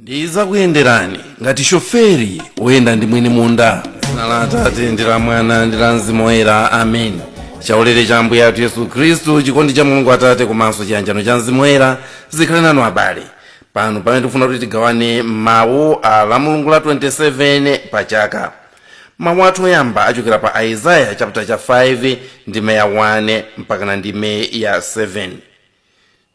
ndizakuyenderani ngati shoferi woyenda ndi mwini munda dzina la atate ndi la mwana ndi la mzimu woyera amen chaulere cha ambuye athu yesu khristu chikondi cha mulungu atate komanso chiyanjano cha mzimu woyera zikhale nanu abale pano pamene tikufuna kuti tigawane mawu a lamulungu la 27 pa chaka mawu athu oyamba achokera pa aizaya chapter cha 5 ndime ya 1 mpakana ndime ya 7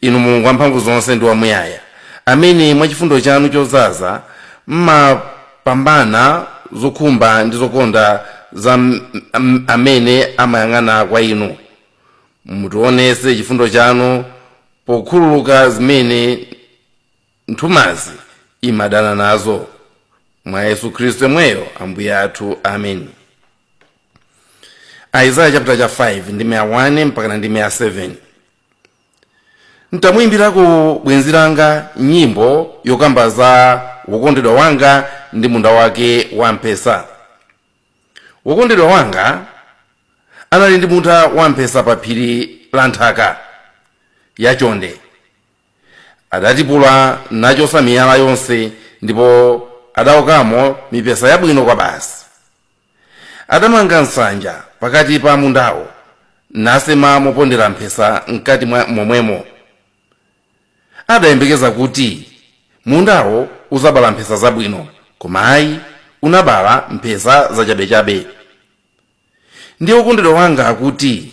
inu mulungu wamphamvu zonse ndi wamuyaya amene mwa chifundo chanu chodzaza mmapambana zokhumba ndi zokonda za amene amayang'ana kwa inu mutionese chifundo chanu pokhululuka zimene nthumazi imadana nazo mwa yesu khristu yemweyo ambuye athu amen aizaya chapter cha 5 ndime ya 1 mpakana ndime ya 7 ntamuyimbirako bwenzi langa nyimbo yokamba za wokondedwa wanga ndi munda wake wa mphesa wokondedwa wanga anali ndi munda wa mphesa pa phiri la nthaka yachonde Adatipula nachotsa miyala yonse, ndipo adaokamo mipesa yabwino kwabasi. Adamanga nsanja pakati pa mundawo, nasema mopondera mphesa m'kati mwa momwemo. Adayembekeza kuti mundawo udzabala mphesa zabwino, koma ayi, unabala mphesa zachabechabe. Ndiye wokondedwa wanga akuti,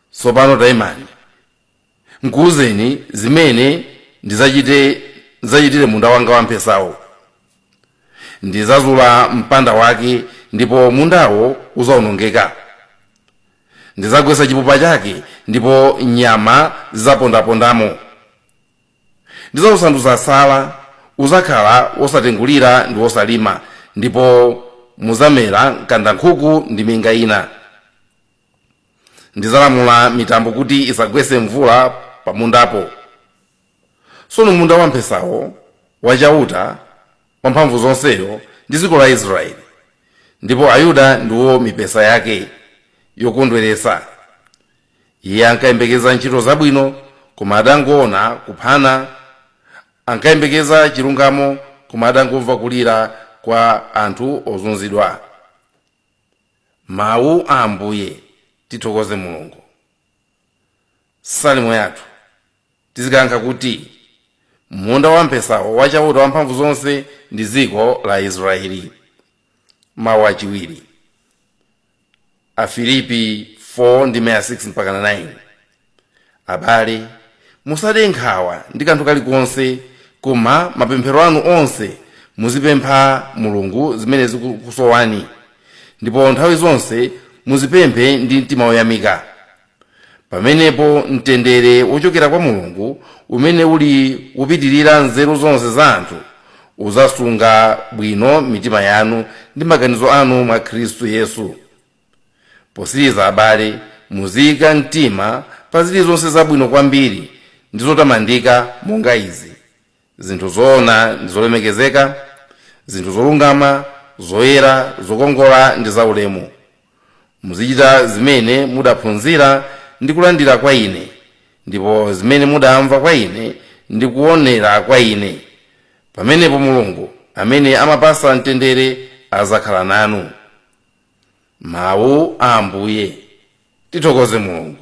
Tsopano taimani, nkuuzeni zimene ndidzachite, ndidzachitire munda wanga wamphesawo. Ndidzazula mpanda wake ndipo mundawo udzaonongeka. Ndidzagwetsa chipupa chake ndipo nyama zidzapondapondamo. Ndidzausandutsa tsala, udzakhala wosatengulira ndi wosalima, ndipo mudzamera mkandankhuku ndi minga ina. ndizalamula mitambo kuti isagwetse mvula pamundapo tsono munda wamphesawo wa chauta wamphamvu zonseyo ndi dziko la aisraeli ndipo ayuda ndiwo mipesa yake yokondweretsa iye ankayembekeza ntchito zabwino koma adangoona kuphana ankayembekeza chilungamo koma adangomva kulira kwa anthu ozunzidwa Mawu a Ambuye, tithokoze Mulungu. Salimo yathu tizikayankha kuti, Munda wamphesawo wa Chauta Wamphamvu zonse ndi dziko la Aisraeli. Mawu achiwiri Afilipi 4 ndime ya 6 mpaka 9 Abale, musade nkhawa ndi kanthu kalikonse, koma mapemphero anu onse muzipempha Mulungu zimene zikukusowani, ndipo nthawi zonse muzipemphe ndi mtima woyamika. Pamenepo mtendere wochokera kwa Mulungu, umene uli wopitirira nzeru zonse za anthu, uzasunga bwino mitima yanu ndi maganizo anu mwa Khristu Yesu. posiriza abale muziyika mtima pa zilizonse zabwino kwambiri ndi zotamandika monga izi zinthu zoona ndi zolemekezeka zinthu zolungama zoyera zokongola ndi zaulemu muzichita zimene mudaphunzira ndi kulandira kwa ine ndipo zimene mudamva kwa ine ndi kuonera kwa ine pamenepo mulungu amene amapasa mtendere azakhala nanu mawu a ambuye tithokoze mulungu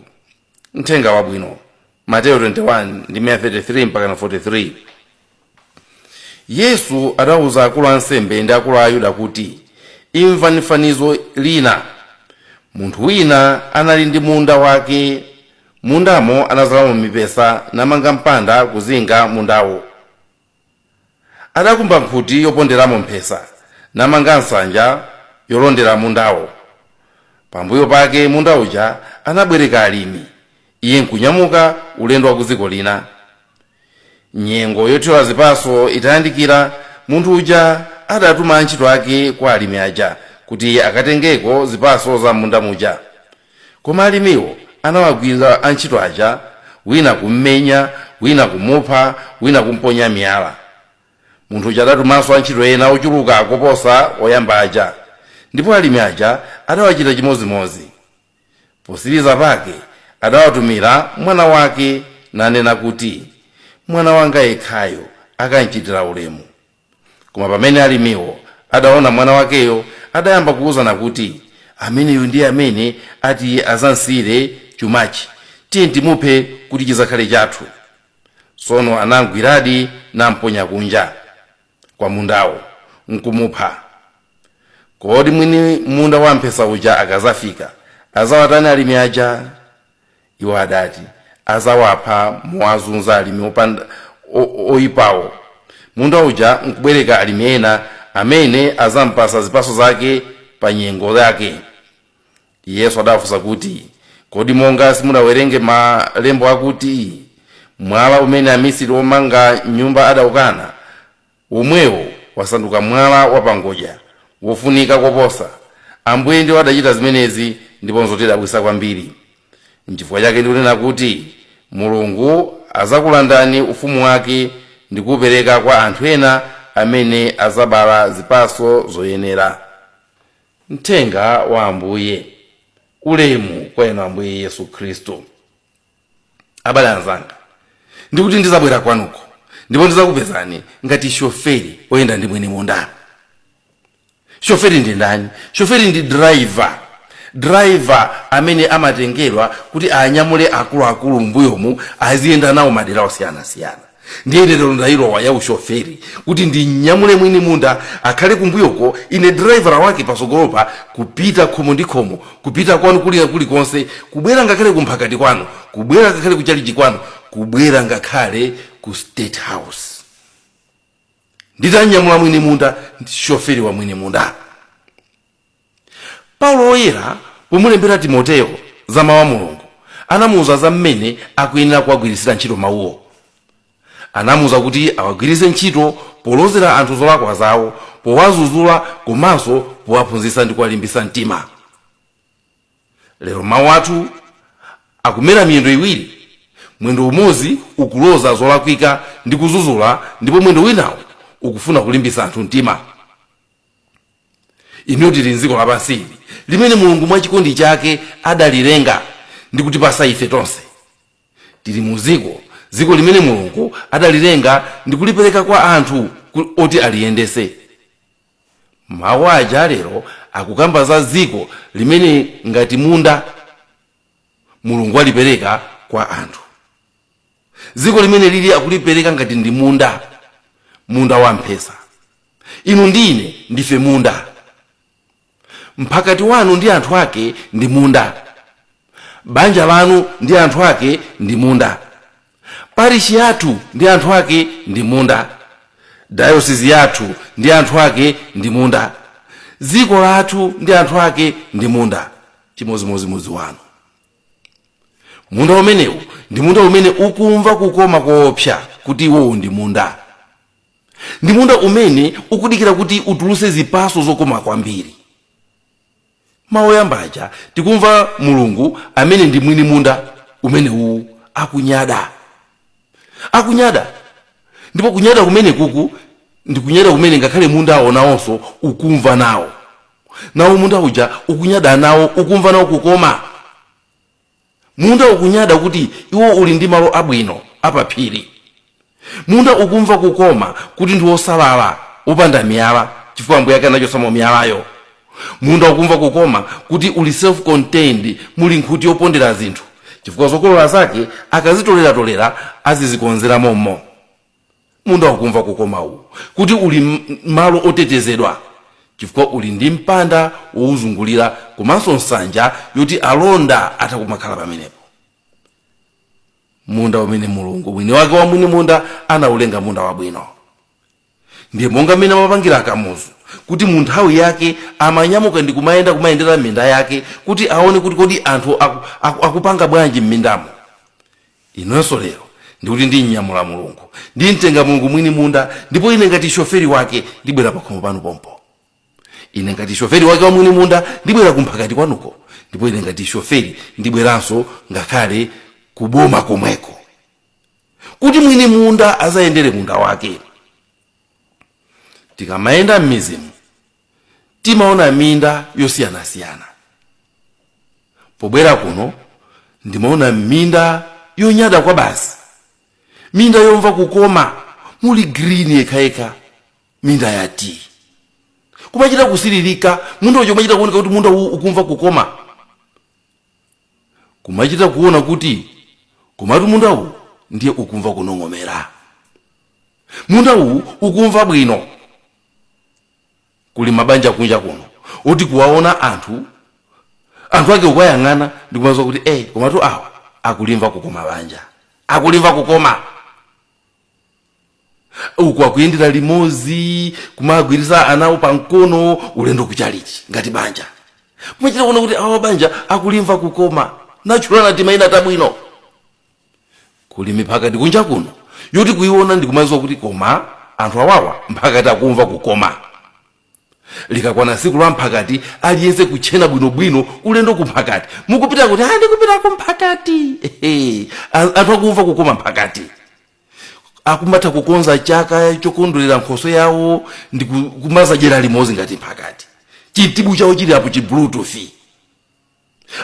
mthenga wabwino mateyo 21 ndime 33 mpaka 43 yesu adauza akulu ansembe ndi akulu a ayuda kuti imvani fanizo lina munthu wina anali ndi munda wake mundamo anazalamo mipesa namanga mpanda kuzinga mundawo Adakumba nkhuti yoponderamo mphesa, namanga nsanja yolondera mundawo. Pambuyo pake munda uja anabwereka alimi, iye nkunyamuka ulendo wa ku dziko lina. Nyengo yothyola zipaso itayandikira, munthu uja adatuma antchito ake kwa alimi aja kuti akatengeko zipaso za m'munda muja. Koma alimiwo anawagwira antchito aja, wina kum'menya, wina kumupha, wina kum'ponya miyala. Munthu uja adatumanso antchito ena ochuluka koposa oyamba aja, ndipo alimi aja adawachita chimozimozi. Posiriza pake adawatumira mwana wake, nanena kuti, Mwana wanga yekhayo akamchitira ulemu. Koma pamene alimiwo adaona mwana wakeyo, adayamba kuuzana kuti, Ameneyu ndiye amene ati azamsiyire chumachi. Tiye timuphe kuti chizakhale chathu. Tsono anamgwiradi namponya kunja kwa mundawo, nkumupha. Kodi mwini munda wamphesa uja akazafika, azawatani alimi aja? Iwo adati azawapha mowazunza alimi opanda oipawo munda uja nkubwereka alimi ena amene azampasa zipaso zake pa nyengo yake. Yesu adawafunsa kuti, Kodi monga simudawerenge malembo akuti, Mwala umene amisiri omanga nyumba adaukana, womwewo wasanduka mwala wapangodya wofunika koposa. Ambuye ndiwo adachita zimenezi ndipo nzotidabwitsa kwambiri. Nchifukwa chake ndikunena kuti Mulungu adzakulandani ufumu wake ndi kuupereka kwa anthu ena amene adzabala zipatso zoyenera. Mthenga wa Ambuye. Ulemu kwa Inu Ambuye Yesu Khristu. abale anzanga ndikuti ndizabwera kwanuko ndipo ndizakupezani ngati shoferi oyenda ndi mwini munda shoferi ndi ndani shoferi ndi driver driver amene amatengerwa kuti anyamule akuluakulu mbuyomu aziyenda nawo madera osiyanasiyana ndiye lero ndailowa ya ushoferi kuti ndimnyamule mwini munda akhale kumbuyoko ine diraivala wake pasogolopa kupita khomo ndi khomo kupita kwanu kulikulikonse kubwera ngakhale kumphakati kwanu kubwera ngakhale kuchalichi kwanu kubwera ngakhale ku state house nditamnyamula mwini munda shoferi wa mwini munda Paulo Woyera, pomulembera Timoteo za Mawu a Mulungu, anamuuza za mmene akuyenera kuwagwiritsira ntchito Mawuwo. Anamuuza kuti awagwiritse ntchito polozera anthu zolakwa zawo, powadzudzula komanso powaphunzitsa ndi kuwalimbitsa mtima. Lero mawu athu akumera miyendo iwiri, mwendo umodzi ukuloza zolakwika ndi kudzudzula ndipo mwendo winawo ukufuna kulimbitsa anthu mtima. Inuyo tili m'dziko lapansi ili, limene Mulungu mwa chikondi chake adalilenga ndi kutipatsa ife tonse. Tili mu dziko, dziko limene Mulungu adalilenga ndi kulipereka kwa anthu oti aliyendetse. Mawu aja a lero akukamba za dziko limene ngati munda, Mulungu alipereka kwa anthu. dziko limene lili akulipereka ngati ndi munda munda wa mphesa inu ndi ine ndife munda mphakati wanu ndi anthu ake ndi munda banja lanu ndi anthu ake ndi munda parishi yathu ndi anthu ake ndi munda dayosisi yathu ndi anthu ake ndi munda dziko lathu ndi anthu ake ndi munda chimodzimodzi wanu munda umenewu ndi munda umene ukumva kukoma koopsa kuti iwowo ndi munda ndi munda umene ukudikira kuti utuluse zipaso zokoma kwambiri mawu oyamba aja tikumva mulungu amene ndi mwini munda umene uwu akunyada akunyada ndipo kunyada kumene kuku ndi kunyada kumene ngakhale munda wonawonso ukumva nawo nawo munda uja ukunyada nawo ukumva nawo kukoma munda ukunyada kuti iwo uli ndi malo abwino apaphiri munda ukumva kukoma kuti ndi wosalala wopanda miyala chifukwa ambuye ake anachosamo miyalayo munda ukumva kukoma kuti uli self contained muli nkhuti yopondera zinthu chifukwa zokolola zake akazitoleratolera azizikonzera mommo munda ukumva kukoma uwu kuti uli m- malo otetezedwa chifukwa uli ndi mpanda wowuzungulira komanso nsanja yoti alonda atha kumakhala pamenepo munda umene mulungu mwini wake wa mwini munda anaulenga munda wabwino ndiye monga mmene amapangira akamuzu kuti mu nthawi yake amanyamuka ndi kumayenda kumayendera minda yake kuti aone kuti kodi anthu aku, aku, akupanga bwanji m'mindamo Inenso lero ndikuti ndimnyamula Mulungu, ndimtenga Mulungu mwini munda, ndipo ine ngati shoferi wake ndibwera pakhomo panu pompo. Ine ngati shoferi wake wa mwini munda ndibwera kumphakati kwanuko, ndipo ine ngati shoferi ndibweranso ngakhale ku boma komweko, kuti mwini munda azayendere munda wake. Tikamayenda m'mizimu timaona minda yosiyanasiyana pobwera kuno ndimaona minda yonyada kwa basi minda yomva kukoma muli green yekhayekha minda ya tii kumachita kusilirika munda ucho kumachita kuoneka kuti munda uwu ukumva kukoma kumachita kuona kuti komatu munda uwu ndiye ukumva kunong'omera munda uwu ukumva bwino kuli mabanja kunja kuno oti kuwaona anthu anthu ake ukayang'ana ndikumaziwa kuti ey komatu awa akulimva kukoma banja akulimva kukoma uku akuyendera limozi kumagwiriza ana awo pa mkono ulendo kuchalichi ngati banja kumachita kuona kuti awa banja akulimva kukoma kutchulana timaina tabwino kuli miphakati kunja kuno yoti kuiona ndikumaziwa kuti koma anthu awawa mphakati akumva kukoma likakwana tsiku la mphakati aliyense kutchena bwinobwino ulendo ku mphakati mukupita kuti "Ah, ndikupita ku mphakati Ehe, a- anthu akumva kukoma mphakati akumatha kukonza chaka chokondwerera nkhoso yawo ndi ku- kumazadyera limodzi ngati mphakati chitsibu chawo chili apo chi bluetooth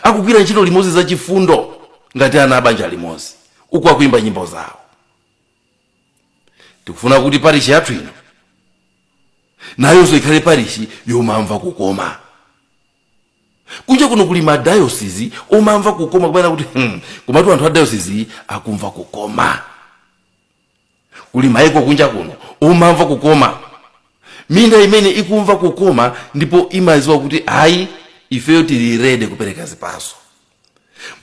Akugwira ntchito limodzi zachifundo ngati ana a banja limodzi, uku akuimba nyimbo zawo. Tikufuna kuti parishi yathu ino nayonso ikhale parishi yomamva kukoma. Kunja kuno kuli madayosizi omamva kukoma kumene kuti hmm, komatu anthu a dayosizi iyi akumva kukoma. kuli maiko kunja kuno omamva kukoma minda imene ikumva kukoma ndipo imaziwa kuti ayi ifeyo tili ready kupereka zipaso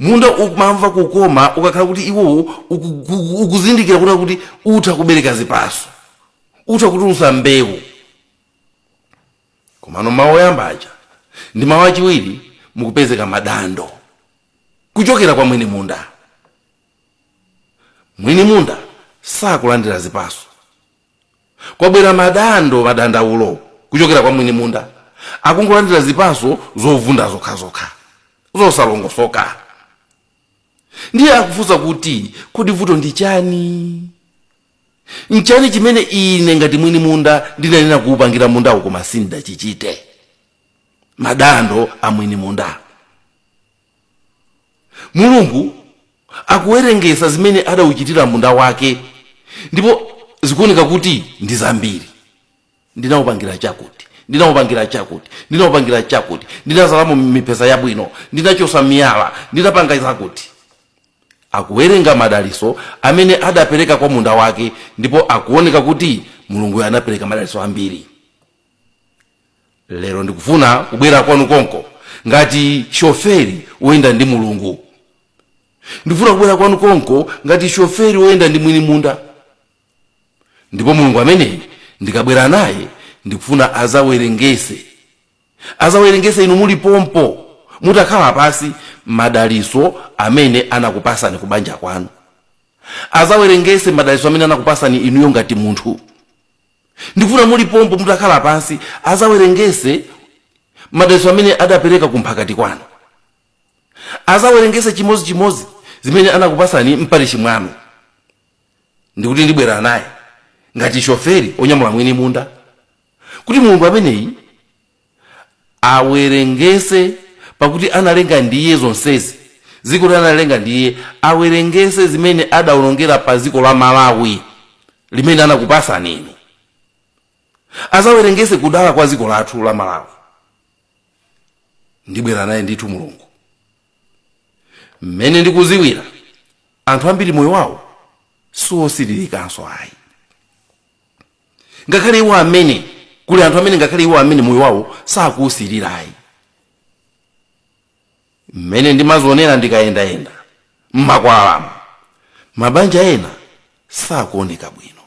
munda umamva kukoma ukakhala kuti iwowo uku- uku- ukuzindikira kuona kuti utha kubereka zipaso utha kutulusa mbewu komano mawu oyamba aja ndi mawu achiwiri mukupezeka madandaulo kuchokera kwa mwini munda Mwini munda sakulandira zipaso. Kwabwera madando, madandaulo kuchokera kwa mwini munda. Akungolandira zipaso zovunda zokhazokha, zosalongosoka. Ndiye akufunsa kuti, Kodi vuto ndi chani? Nchani chimene ine ngati mwini munda ndinayenera kuupangira mundawu koma sindidachichite? Madandaulo a mwini munda. Mulungu akuwerengesa zimene adauchitira munda wake ndipo zikuoneka kuti ndi zambiri. Ndinaupangira chakuti, ndinaupangira chakuti, ndinaupangira chakuti, ndinazalamo mipesa yabwino, ndinachotsa miyala, ndinapanga zakuti. Akuwerenga madaliso amene adapereka kwa munda wake ndipo akuoneka kuti Mulunguyo anapereka madaliso ambiri. lero ndikufuna kubwera kwanu konko ngati shoferi woyenda ndi mulungu ndikufuna kubwera kwanu konko ngati shoferi woyenda ndi mwini munda ndipo mulungu amene ndikabwera naye ndikufuna azawerengese azawerengese inu muli pompo mutakhala pasi madaliso amene anakupasani ku banja kwanu azawerengese madaliso amene anakupasani inuyo ngati munthu Ndikufuna muli pompo mutakhala pansi azawerengese madalitso amene adapereka ku mphakati kwanu. Azawerengese chimodzi chimodzi zimene anakupasani mparishi mwanu. Ndikuti ndibwera naye ngati shoferi onyamula mwini munda kuti Mulungu ameneyi awerengese pakuti analenga ndi iye zonsezi dzikoli analenga ndi iye awerengese zimene adaonongera pa dziko la malawi limene anakupasani inu azawerengese kudala kwa dziko lathu la malawi ndibwera naye ndithu mulungu mmene ndikuziwira anthu ambiri moyo wawo siwosilirikanso ayi ngakhale iwo amene kuli anthu amene ngakhale iwo amene moyo wawo sakuusirira ayi mmene ndimazionera ndikayendayenda mmakwalamo mabanja ena sakuoneka bwino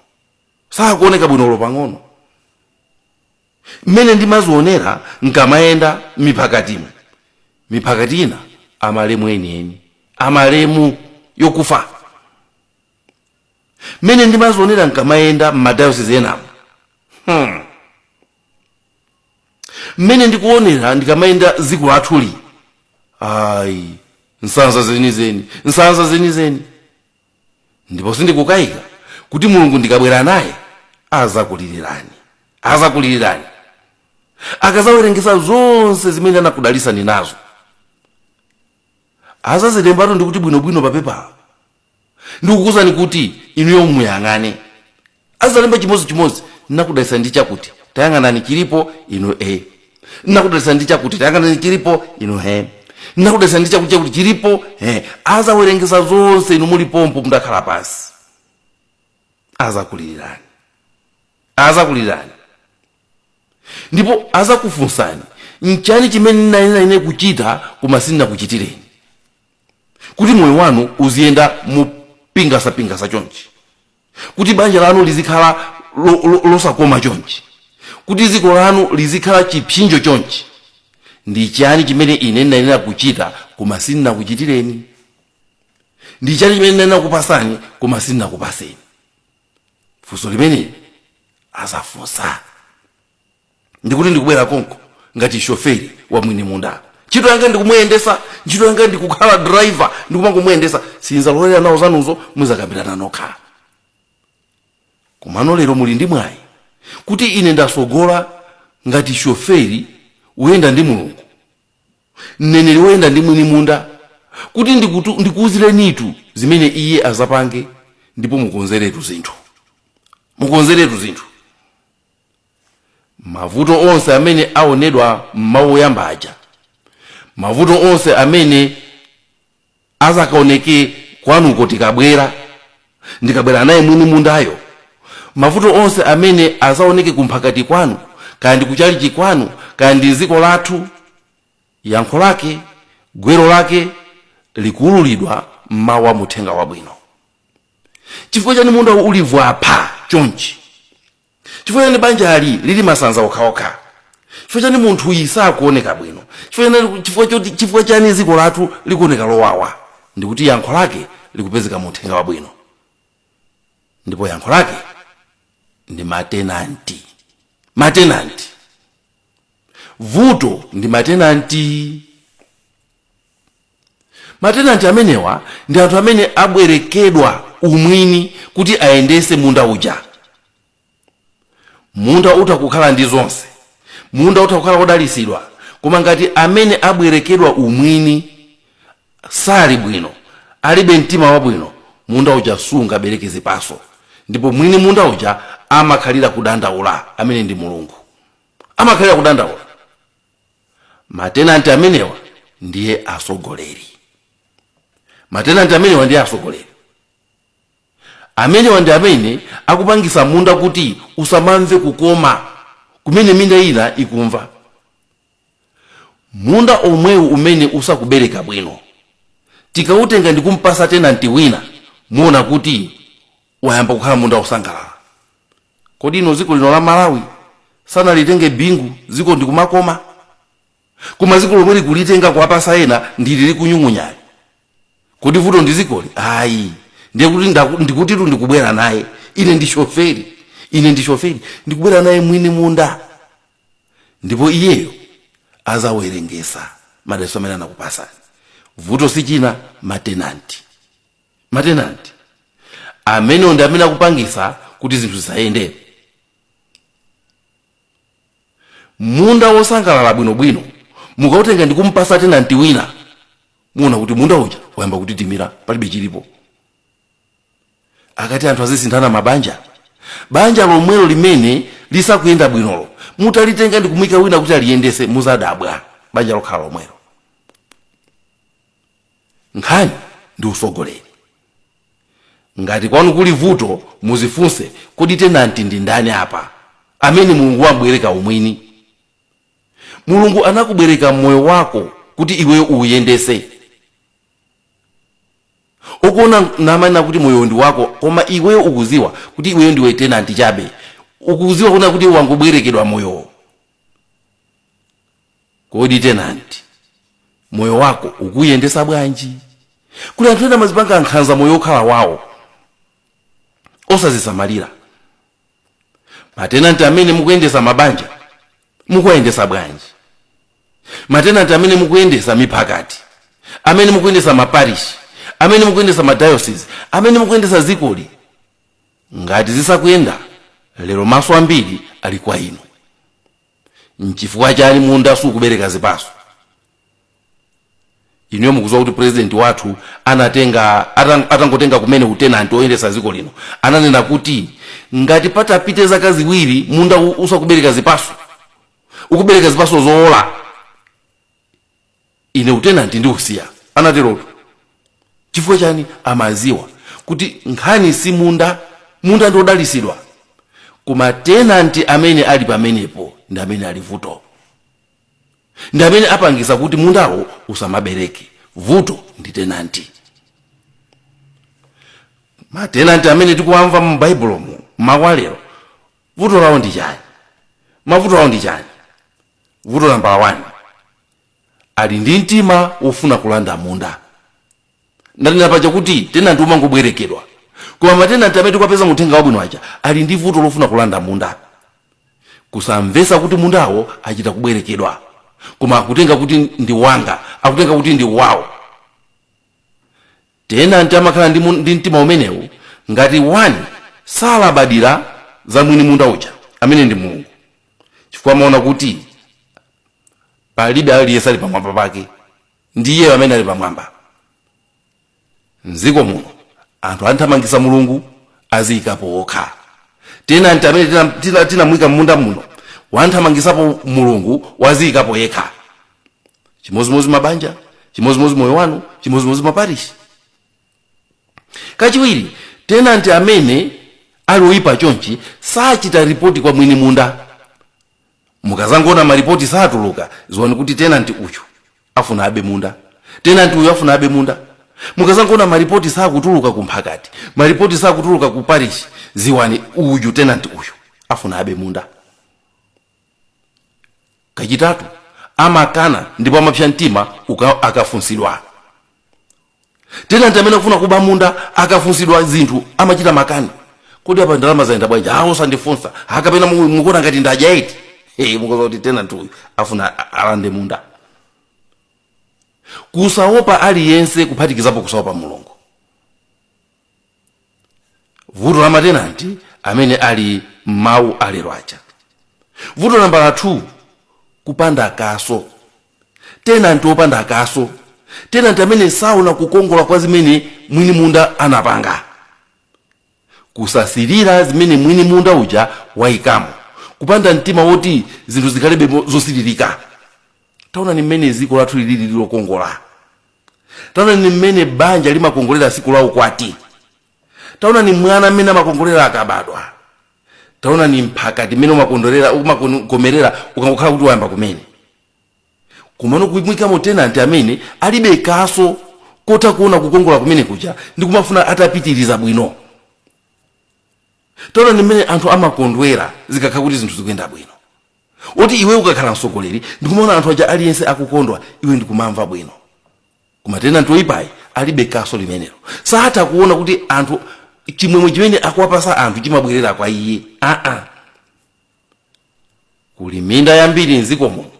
sakuoneka bwino olo pang'ono mmene ndimazionera nkamayenda m'miphakatimo miphakati ina amalemu enieni amalemu yokufa mmene ndimazionera nkamayenda m'madayosizi enamu hmm. mmene ndikuonera ndikamayenda dziko lathuli ayi nsanza zenizeni nsanza zenizeni ndipo sindikukayika kuti mulungu ndikabwera naye azakulilirani azakulilirani akazawerengesa zonse zimene anakudalisani nazo azazilembatu ndikuti bwinobwino papepa ndikukuuzani kuti inuyo muyang'ane azalemba chimodzi chimodzi nakudalisa ndi chakuti tayang'anani chilipo inu e nakudalisa ndi chakuti tayang'anani chilipo inu he nakudalisa ndi chakuti chakuti chilipo he azawerengesa zonse inu muli pompo mudakhala pansi azakulilirani azakulilirani ndipo azakufunsani nchani chimene ndinanena ine kuchita koma sindinakuchitireni kuti moyo wanu uziyenda mopingasapingasa chonchi kuti banja lanu lizikhala lo- lo- losakoma chonchi kuti dziko lanu lizikhala chipsinjo chonchi ndi chani chimene ine ndinanena kuchita koma sindinakuchitireni ndi chani chimene ndinanena kupasani koma sindinakupaseni funso limeneli azafunsa ndikuti ndikubwera konko ngati shoferi wa mwini munda ntchito yanga ndikumuyendesa ntchito yanga ndikukhala driver ndikumangomuyendesa sinzalolera nawo zanuzo muzakambirana nokha komano lero muli ndi mwayi kuti ine ndasogola ngati shoferi woyenda ndi mulungu mneneri woyenda ndi mwini munda kuti ndikutu- ndikuuzirenitu zimene iye azapange ndipo mukonzeretu zinthu mukonzeretu zinthu mavuto onse amene aonedwa m'mawu oyamba aja mavuto onse amene azakaoneke kwanuko tikabwera ndikabwera naye mwini mundayo mavuto onse amene azaoneke kumphakati kwanu kaya ndi kuchalichi kwanu kaya ndi dziko lathu yankho lake gwero lake likuululidwa m'mawu a muthenga wabwino chifukwa chani mundawu uli vwapha chonchi chifukwa chani banjali lili masanza okhaokha chifukwa chani munthuyi sakuoneka bwino chifukwa chani- chifukwa choti- chifukwa chani dziko lathu likuoneka lowawa ndikuti yankho lake likupezeka mu uthenga wabwino ndipo yankho lake ndi matenanti matenanti vuto ndi matenanti Matenanti amenewa ndi anthu amene abwerekedwa umwini kuti ayendetse munda uja. Munda utha kukhala ndi zonse. Munda utha kukhala wodalitsidwa, koma ngati amene abwerekedwa umwini sali bwino, alibe mtima wabwino, munda uja sungabereke zipatso ndipo mwini munda uja amakhalira kudandaula, amene ndi Mulungu. Amakhalira kudandaula. matenanti amenewa ndiye atsogoleri matenanti amenewa ndiye atsogoleri amenewa ndi amene akupangisa munda kuti usamamve kukoma kumene minda ina ikumva munda omwewu umene usakubereka bwino tikautenga ndi kumpasa tenanti wina muona kuti wayamba kukhala munda wosangalala Kodi inu ziko lino la Malawi sanalitenge Bingu ziko ndikumakoma? Koma ziko lomwe likulitenga kuwapasa ena ndili likunyung'unyali. Kodi vuto ndi zikoli? Ayi. Ndiye kuti ndaku- ndikutitu ndikubwera naye. Ine ndi shoferi. Ine ndi shoferi. Ndikubwera naye mwini munda. Ndipo iyeyo azawerengesa madalitso amene anakupasani. Vuto si china matenanti. matenanti amenewo ndi amene akupangisa kuti zinthu zisayende munda wosangalala bwinobwino mukautenga ndi kumpasa tenanti wina muona kuti munda uja wayamba kutitimira palibe chilipo akati anthu azisinthana mabanja banja lomwelo limene lisakuyenda bwinolo mutalitenga ndi kumuyika wina kuti aliyendese muzadabwa banja lokhala lomwelo Nkhani ndi utsogoleri. Ngati kwanu kuli vuto muzifunse kodi tenanti ndi ndani apa amene mulungu wam'bwereka umwini? Mulungu anakubwereka moyo wako kuti iweyo uwuyendetse. Akuona namanena kuti moyowo ndi wako koma iweyo ukudziwa kuti iweyo ndiwe tenanti chabe. Ukudziwa kunena kuti wangobwerekedwa moyowo. kodi tenanti moyo wako ukuyendesa bwanji kuli anthu ena amazipanga nkhanza moyo okhala wawo osazisamalira matenanti amene mukuyendesa mabanja mukuwayendesa bwanji matenanti amene mukuyendesa miphakati amene mukuyendesa maparishi amene mukuyendesa madayosizi amene mukuyendesa zikoli ngati zisakuyenda lero maso ambiri ali kwa inu nchifukwa chani munda sukubereka zipaso inuyo mukuziwa kuti president wathu anatenga atang- atangotenga kumene utenanti oyendesa ziko lino ananena kuti ngati patapite zaka ziwiri munda u- usakubereka zipaso ukubereka zipaso zowola ine utenanti ndikusiya anaterotu chifukwa chani amaziwa kuti nkhani si munda munda ndi odalisidwa koma tenanti amene ali pamenepo ndi amene ali vuto ndi amene apangisa kuti mundawo usamabereke vuto ndi tenanti matenanti amene tikuwamva mu baibulomu mwalero vuto lawo ndi chani mavuto awo ndi chani vuto nambala 1 ali ndi mtima wofuna kulanda munda ndanena paja kuti tenanti umangobwerekedwa koma matenanti amene tikuwapeza muthenga wabwino aja ali ndi vuto lofuna kulanda munda kusamvesa kuti mundawo achita kubwerekedwa koma akutenga kuti ndi wanga akutenga kuti ndi wawo Tenanti amakhala ndi, ndi mtima umenewu ngati 1 salabadira za mwini munda uja amene ndi Mulungu chifukwa amaona kuti palibe aliyense ali pamwamba pake ndi iye amene ali pamwamba. Mdziko muno anthu athamangisa Mulungu aziyikapo okha. Tenanti amene tinamuyika mmunda muno wathamangisapo Mulungu waziyikapo yekha. chimozimozi mabanja chimozimozi moyo wanu chimozimozi maparishi kachiwiri tenanti amene ali oyipa chonchi sachita ripoti kwa mwini munda mukazangona maripoti satuluka ziwani kuti tenanti uyu afuna abe munda tenanti uyu afuna abe munda mukazangona maripoti sakutuluka ku mphakati maripoti sakutuluka ku parishi ziwani uyu tenanti uyu afuna abe munda kachitatu amakana ndipo amapsa mtima uka- akafunsidwa tenanti amene akufuna kuba munda akafunsidwa zinthu amachita makani kodi apa ndalama zayenda bwanji a osandifunsa akapena mu- mukuona ngati ndadya eti hey, mukudziwa kuti tenanti uyu afuna a- alande munda kusaopa aliyense kuphatikizapo kusaopa mulungu vuto la matenanti amene ali m'mawu alero aja vuto nambala 2 kupanda kaso tenanti opanda kaso tenanti amene saona kukongola kwa zimene mwini munda anapanga kusasirira zimene mwini munda uja wayikamo kupanda mtima woti zinthu zikhalebe mo- zosiririka taonani mmene dziko lathu lilili lokongola Taonani mmene banja limakongolera tsiku la ukwati. Taonani mwana mmene amakongolera akabadwa. Taonani mphakati mmene umakomerera ukangokhala kuti wayamba kumene. Komano kumuikamo tenanti amene alibe kaso kotha kuona kukongola kumene kuja ndi kumafuna atapitiriza bwino. Taonani mmene anthu amakondwera zikakhala kuti zinthu zikuyenda bwino. oti iwe ukakhala msogoleri ndikumaona anthu aja aliyense akukondwa iwe ndikumamva bwino koma tenanti oyipayi alibe kaso limenelo satha kuona kuti anthu chimwemwe chimene akuwapasa anthu chimabwerera kwa iye aa kuli minda yambiri mdziko muno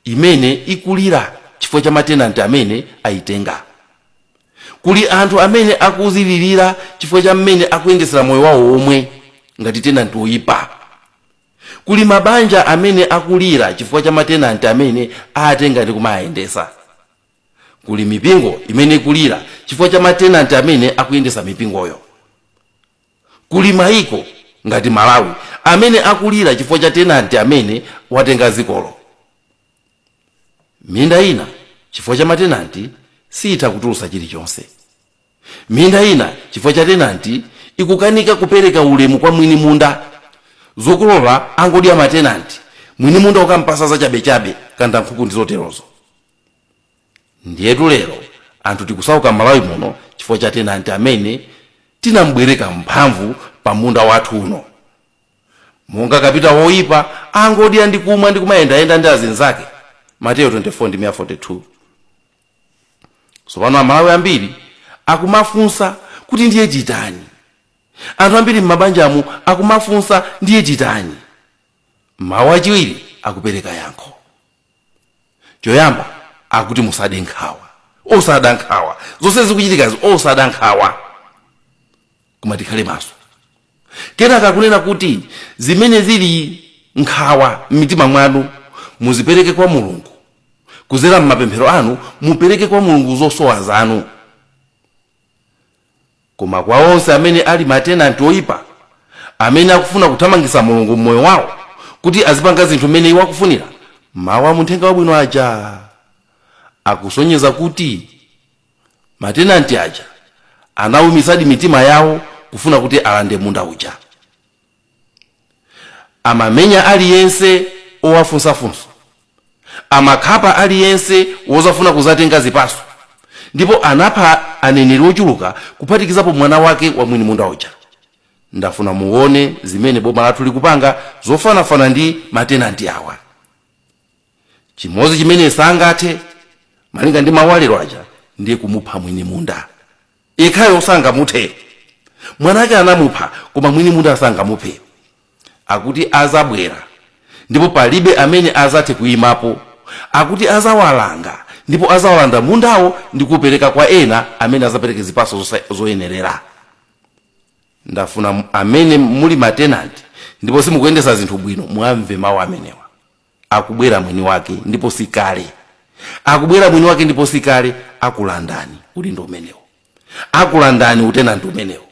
imene ikulira chifukwa cha matenanti amene aitenga. Kuli anthu amene akudzilirira chifukwa cha mmene akuyendetsera moyo wawo omwe ngati tenanti woipa. Kuli mabanja amene akulira chifukwa cha matenanti amene aatenga ndi kumaayendetsa. Kuli mipingo imene ikulira chifukwa cha matenanti amene akuyendetsa mipingoyo. Kuli maiko ngati Malawi amene akulira chifukwa cha tenanti amene watenga dzikolo. Minda ina chifukwa cha matenanti siitha kutulutsa chilichonse. Minda ina chifukwa cha tenanti ikukanika kupereka ulemu kwa mwini munda. Zokolola angodya matenanti, mwini munda kukampasa zachabechabe, kandankhuku ndi zoterozo. Ndiyetu lero anthu tikusauka Malawi muno chifukwa cha tenanti amene tinamubwereka mphamvu pa munda wathu uno. Monga kapita woipa, angodya ndi kumwa ndi kumayendayenda ndi azinzake, Mateyu 24 ndime ya 42. Tsopano Amalawi ambiri akumafunsa kuti ndiye titani? Anthu ambiri m'mabanjamu akumafunsa ndiye titani? Mawu achiwiri akupereka yankho. choyamba akuti musade nkhawa osada nkhawa zonse zikuchitikazi osada nkhawa koma tikhale maso kenaka akunena kuti zimene zili nkhawa m'mitima mwanu muzipereke kwa mulungu kuzera m'mapemphero anu mupereke kwa mulungu zosowa zanu Koma kwa onse amene ali matenanti oipa, amene akufuna kuthamangitsa Mulungu m'moyo wawo, kuti azipanga zinthu mmene iwo akufunira, mawu a mu uthenga wabwino aja akusonyeza kuti matenanti aja anaumitsadi mitima yawo kufuna kuti alande munda uja. Amamenya aliyense owafunsa funso. Amakhapa aliyense wozafuna kuzatenga zipaso. Ndipo anapha aneneri ochuluka kuphatikizapo mwana wake wa mwini munda uja. Ndafuna muone zimene boma lathu likupanga zofanafana ndi matenanti awa. Chimodzi chimene sangathe, malinga ndi mawu a lero aja, ndiye kumupha mwini munda. yekhayo sangamuthe mwana ake anamupha koma mwini munda sangamuphe akuti azabwera ndipo palibe amene azathe kuimapo akuti azawalanga ndipo azawalanda mundawo ndi kuupereka kwa ena amene azapereke zipaso zoyenerera ndafuna amene muli matenanti ndipo simukuyendesa zinthu bwino mwamve mawu amenewa akubwera mwini wake ndipo si kale akubwera mwini wake ndipo si kale akulandani udindo umenewo akulandani utenanti umenewo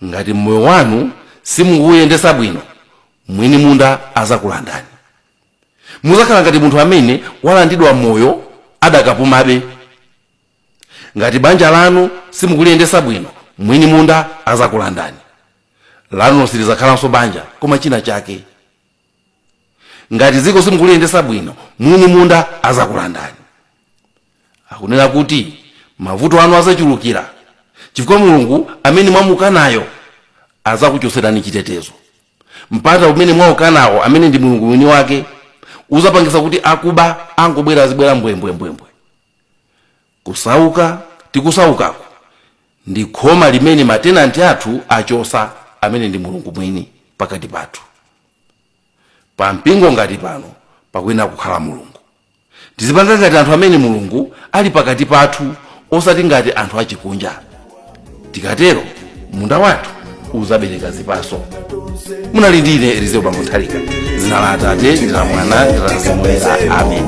ngati moyo wanu simukuuyendesa bwino mwini munda azakulandani muzakhala ngati munthu amene walandidwa moyo adakapumabe ngati banja lanu simukuliyendesa bwino mwini munda azakulandani lanu silizakhalanso banja koma china chake ngati dziko simukuliyendesa bwino mwini munda azakulandani akunena kuti mavuto anu azachulukira chifukwa mulungu amene mwamukanayo azakuchoserani chitetezo mpanda umene mwaukanawo amene ndi mulungu mwini wake uzapangisa kuti akuba angobwera azibwera mbwembwembwembwe Kusauka tikusaukako ndi khoma limene matenanti athu achosa amene ndi Mulungu mwini pakati pathu. Pa mpingo ngati pano pakuyenera kukhala Mulungu. Tizipanga ngati anthu amene Mulungu ali pakati pathu osati ngati anthu achikunja. Tikatero munda wathu uzabereka zipaso. Munali ndi ine Elizeo Bambo Nthalika. Dzina la Atate ndi la Mwana ndi la Mzimu Woyera. Amen.